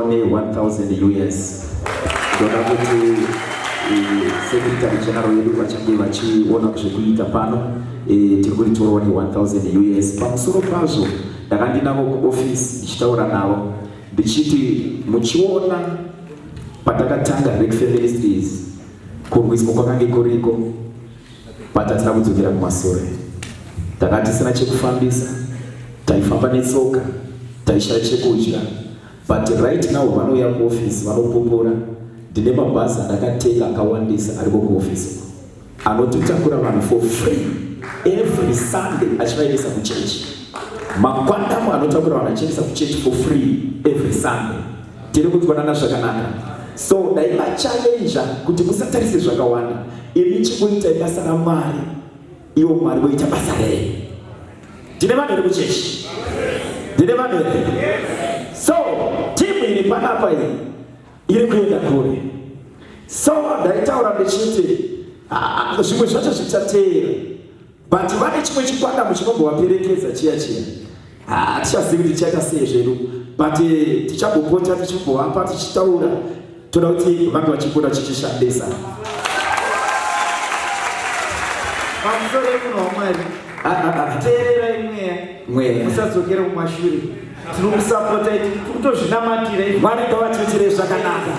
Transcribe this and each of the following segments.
ne 1000 us ndoda kuti eh, secretary general yedu vachange vachiona zvekuita pano eh, tiri kuritorawo ne 1000 us pamusoro pazvo ndakandinavo kuofisi ndichitaura navo ndichiti muchiona patakatanga rek feministries kurwiswa kwakange kuriko patatina kudzokera kumasure takatisina chekufambisa taifamba netsoka taishaya chekudya But right now vanouya kuoffice vanopupura ndine mabhazi andakatenga akawandisa ariko kuoffice uko anototakura vanhu for free every sunday achivaendesa kuchurch makwandamo anotakura vanhu achiendesa kuchurch for free every sunday tiri kutwanana zvakanaka so dai machallenja kuti musatarise zvakawanda imi chikuitai basa ramwari Iwo Mwari voita basa rei? Tine vanhu iri kuchechi? Tine vanhu here? So timu iri panapa iyi iri kuenda kure. So ndaitaura ndichiti ah, ah, zvimwe zvacho zvichateera but vane chimwe chikwata muchinongovaperekedza chiya chiya hatichazivi kuti tichaita sei zvedu but eh, tichagopota tichibovapa tichitaura toda kuti vange vachipota chichishandisa teerera imweya mweya musadzokera kumashure tinokusapota iti kutozvinamatira mwari ngavachochire zvakanaka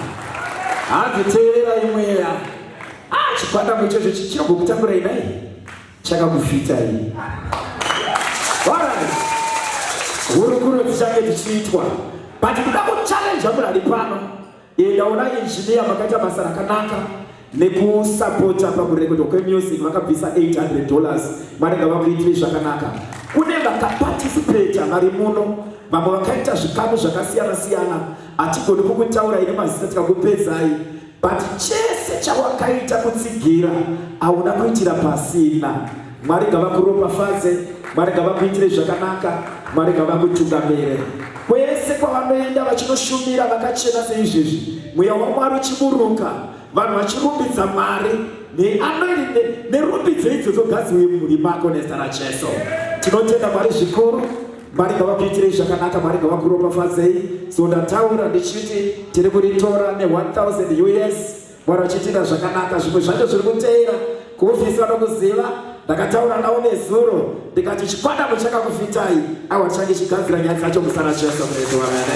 hanzi teerera imweya ah, chikwata muchezvo chichirogokutambura inai chakakufita iyi hurukuro dzichange dzichiitwa but kuda kuchallenja munhu ari pano endaona injiniya makaita basa rakanaka nekusapota pakurekodha kwemusic vakabvisa 800 dollars vanenge vakuitire zvakanaka kune vakapatisipeta vari muno vamwe vakaita zvikamu zvakasiyana siyana hatigoni kukutaura ine mazita tikakupedzai But chese chawakaita kutsigira hauna kuitira pasina. Mwari ngavakuropafadze, Mwari ngavakuitire zvakanaka, Mwari ngavakutungamire kwese kwavanoenda vachinoshumira vakachena seizvezvi, mweya waMwari uchiburuka, vanhu vachirumbidza Mwari neanoirinde nerumbidzo idzo dzogadziwe mumhuri mako nezita raJesu. Tinotenda Mwari zvikuru. Mwari ngavakuitirei zvakanaka, Mwari ngavakuropafadzei. So ndataura ndichiti tiri kuritora ne1000 US, Mwari vachiitira zvakanaka. Zvimwe zvacho zviri kuteera kuhofisi vanokuziva ndakataura navo nezuro ndikati chikwadamu chakakufitai awa change chigadzira nyaya dzacho musana cheso mretu wamene